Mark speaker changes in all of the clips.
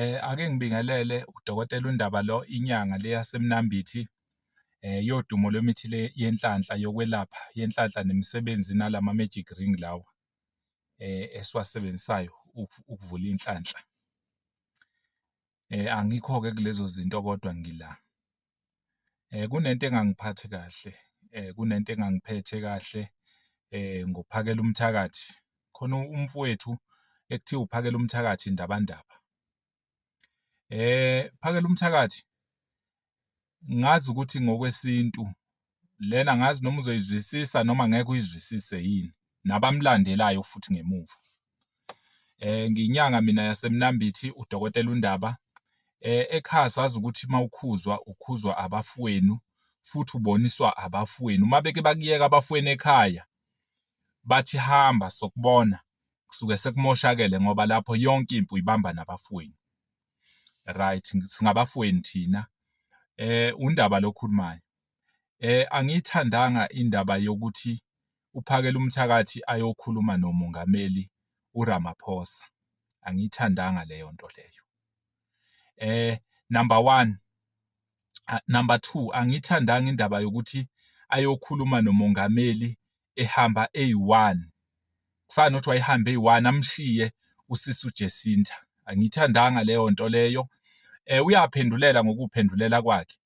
Speaker 1: Eh
Speaker 2: ake ngibingelele udokotela uNdaba lo inyanga le yaseMnambithi eh yodumo lwemithi le yenhlanhla yokwelapha yenhlanhla nemisebenzi nalama magic ring lawa eh esiwasebenzisayo ukuvula inhlanhla. Eh angikho ke kulezo zinto kodwa ngila. kunento engangiphathi kahle kunento engangiphethe kahle ngophakela umthakathi khona umfowethu ekuthiwa uphakela umthakathi indabandaba phakela umthakathi ngazi ukuthi ngokwesintu lena ngazi noma uzoyizwisisa noma ngeke uyizwisise yini nabamlandelayo futhi ngemuva eh nginyanga mina yasemnambithi udokotela undaba eh ekhaya sazi ukuthi mawukhuzwa ukhuzwa abafowenu futhi uboniswa abafowenu uma beke bakuyeka abafowenu ekhaya bathi hamba sokubona kusuke sekumoshakele ngoba lapho yonke impi uyibamba nabafowenu right singabafowenu thina eh undaba lokhulumayo Eh angiyithandanga indaba yokuthi uphakela umthakathi ayokhuluma noMongameli uRamaphosa. Angiyithandanga leyo nto leyo. Eh number one, number two angiyithandanga indaba yokuthi ayokhuluma noMongameli ehamba eyi-one kufana nokuthi wayehambe eyi-one amshiye usisi uJesinta angiyithandanga leyo nto leyo eh uyaphendulela ngokuphendulela kwakhe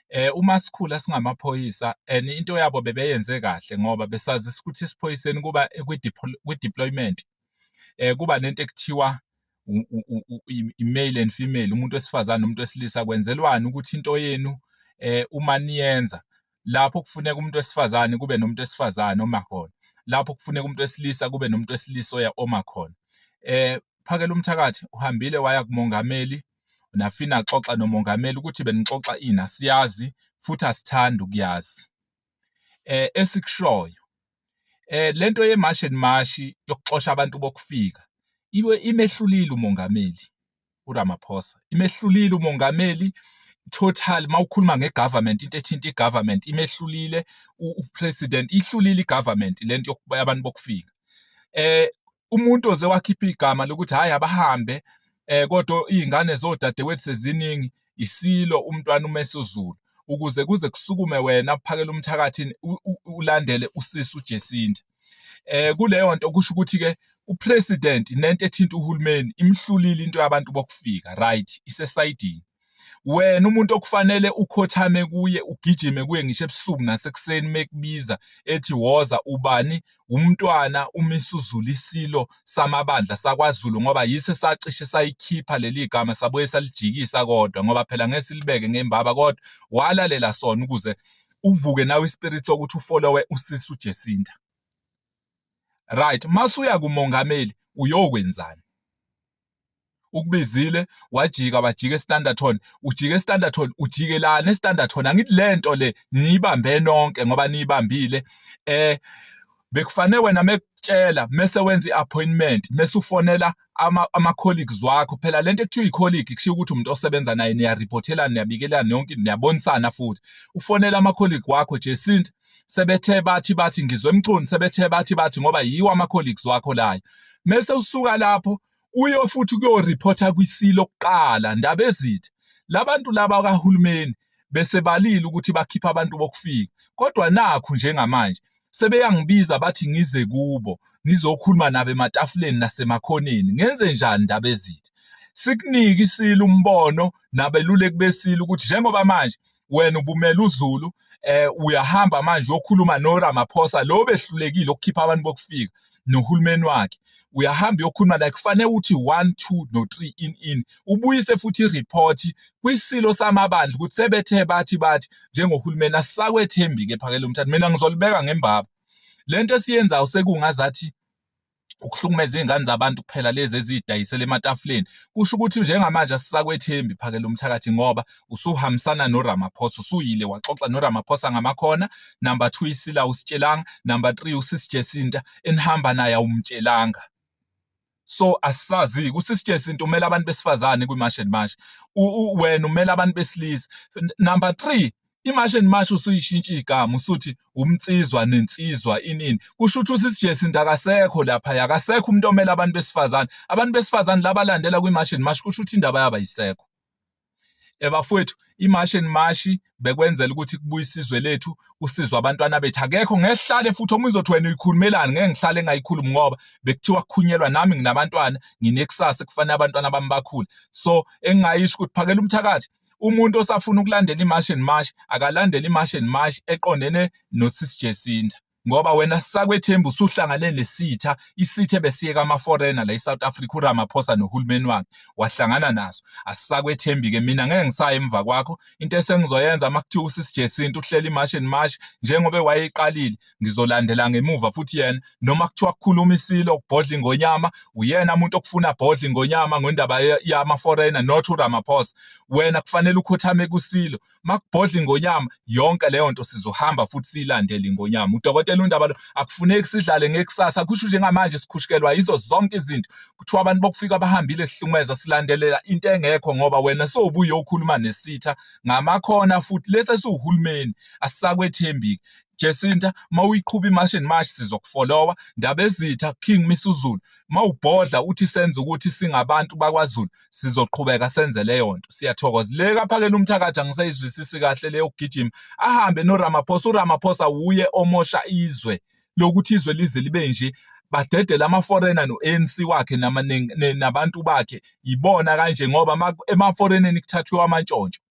Speaker 2: eh uma sikhula singamaphoyisa and into yabo bebeyenze kahle ngoba besazi ukuthi isiphoyiseni kuba kwi-deployment eh kuba nento ekuthiwa i-male and female umuntu wesifazane nomuntu wesilisa kwenzelwani ukuthi into yenu eh uma niyenza lapho kufuneka umuntu wesifazane kube nomuntu wesifazane oma khona lapho kufuneka umuntu wesilisa kube nomuntu wesilisa oya oma khona eh phakela umthakathi uhambile waya kumongameli nafina xoxa nomongameli ukuthi benixoxa ini asiyazi futhi asithandi ukuyazi eh esikushoyo eh lento yemarch and march yokuxosha abantu bokufika iwe imehlulile umongameli uRamaphosa imehlulile umongameli total mawukhuluma ngegovernment into ethinta igovernment imehlulile upresident ihlulile igovernment lento abantu bokufika eh umuntu oze wakhipha igama lokuthi hayi abahambe eh kodwa izingane zodadewethu seziningi isilo umntwana umesuzulu ukuze kuze kusukume wena uphakele umthakathi ulandele usisi uJesinta eh kuleyo nto kusho ukuthi ke upresident nento ethinta uhulumeni imhlulile into yabantu bokufika right isesayidini wena umuntu okufanele ukhothame kuye ugijime kuye ngisho ebusuku nasekuseni mekubiza ethi woza ubani umntwana umisuzulu isilo samabandla sakwaZulu ngoba yiso sacishe sayikhipha leli gama sabuye salijikisa kodwa ngoba phela ngeke silibeke ngembaba kodwa walalela sona ukuze uvuke nawe ispirit sokuthi ufolowe usisi uJesinta right masuya kumongameli uyokwenzani ukubizile wajika wajika estanderton ujike estanderton ujike lana estanderton angithi le nto le niyibambe nonke ngoba niyibambile eh bekufanele wena mekutshela mese wenza i-appointment mese ufonela ama-colleagues wakho phela le nto ekuthiwa i-colleague kushiwo ukuthi umuntu osebenza naye niyaripothelana niyabikelana yonke niyabonisana futhi ufonela ama-colleague wakho jesinta sebethe bathi bathi ngizwe emcuni sebethe bathi bathi ngoba yiwo ama colleagues wakho layo mese usuka lapho uyo futhi kuyo reporter kwisilo kuqala ndaba ezithi labantu laba kahulumeni bese balile ukuthi bakhipha abantu bokufika kodwa nakhu njengamanje sebeyangibiza bathi ngize kubo ngizokhuluma nabo ematafuleni nasemakhoneni ngenze njani ndaba ezithi sikunike isilo umbono nabeluleki besilo ukuthi njengoba manje wena ubumela uzulu eh uyahamba manje uyokhuluma no Ramaphosa lo behlulekile ukukhipha abantu bokufika nohulumeni wakhe uyahamba uyokhuluma la kufanele uthi 1 2 no 3 in in ubuyise futhi ireport kwisilo samabandla ukuthi sebethe bathi bathi njengohulumeni asakwethembi ke phakele umthatha mina ngizolibeka ngembaba lento esiyenzayo sekungazathi ukuhlukumeza izingane zabantu kuphela lezi ezidayisela ematafuleni kusho ukuthi njengamanje asisakwethembi phakela umthakathi ngoba usuhambisana noRamaphosa usuyile waxoxa noRamaphosa ngamakhona number 2 isila usitshelanga number 3 usisijesinta enihamba naye awumtshelanga so asisazi kusisijesinta umela abantu besifazane kwimash and mash wena umela abantu besilisa number 3 imashi and mashi usuyishintsha igama usuthi umnsizwa nensizwa inini kusho ukuthi usisi Jacinta akasekho lapha yakasekho umuntu omela abantu besifazane abantu besifazane labalandela kwimashi and mashi kusho ukuthi indaba yaba yisekho ebafowethu imashi and mashi bekwenzela ukuthi kubuye isizwe lethu kusizwe abantwana bethu akekho ngehlale futhi omunye uzothi wena uyikhulumelani ngeke ngihlale ngayikhulumi ngoba bekuthiwa kukhunyelwa nami nginabantwana nginekusasa kufanele abantwana bami bakhule so engingayisho ukuthi phakela umthakathi umuntu osafuna ukulandela imarch and march akalandele imarch and march eqondene nosisi Jacinta ngoba wena sakwethemba usuhlangane nesitha isithe besiyeka ama-foreigner la e-south africa uramaphosa nohulumeni wakhe wahlangana naso asisakwethembi-ke mina ngeke ngisaya emva kwakho into esengizoyenza uma kuthiwa usisijesinto uhlela i-march and march njengoba wayeyiqalile ngizolandela ngemuva futhi yena noma kuthiwa kukhuluma isilo kubhodla ingonyama uyena umuntu okufuna bhodla ingonyama ngendaba yama foreigner not uRamaphosa wena kufanele ukhothame kusilo makubhodla ingonyama yonke leyo nto sizohamba futhi siyilandele ingonyama udokotela undaba lo akufuneki sidlale ngekusasa kusho njengamanje sikhushukelwa yizo zonke izinto kuthiwa abantu bokufika bahambile kuhlumeza silandelela into engekho ngoba wena sowubuye ukhuluma nesitha ngamakho khona futhi lesi esiwuhulumeni asisakwethembiki Jacinta mawuyiqhuba imashi and mashi sizokufolowa Ndabezitha King Misuzulu mawubhodla uthi senze ukuthi singabantu bakwaZulu sizoqhubeka senze leyo nto siyathokoza le kaphakela umthakathi angisayizwisisi kahle leyo kugijima ahambe noRamaphosa uRamaphosa wuye omosha izwe lokuthi izwe lize libe nje badedele ama-foreigner no-anc wakhe nabantu bakhe yibona kanje ngoba emaforeigneni kuthathiwe amantshontsho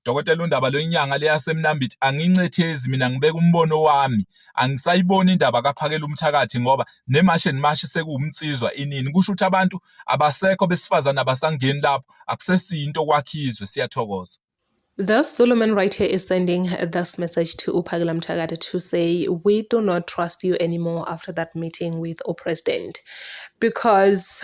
Speaker 2: Dokotela uNdaba lwenyanga leyasemnambithi angincethezi mina ngibeka umbono wami angisayiboni indaba kaphakela umthakathi ngoba nemashi and mashi sekuwumnsizwa inini kusho ukuthi abantu abasekho besifazane abasangeni lapho akusesiyinto kwakhizwe siyathokoza The Solomon
Speaker 1: right here is sending this message to Upagla Mtagata to say, We do not trust you anymore after that meeting with our president because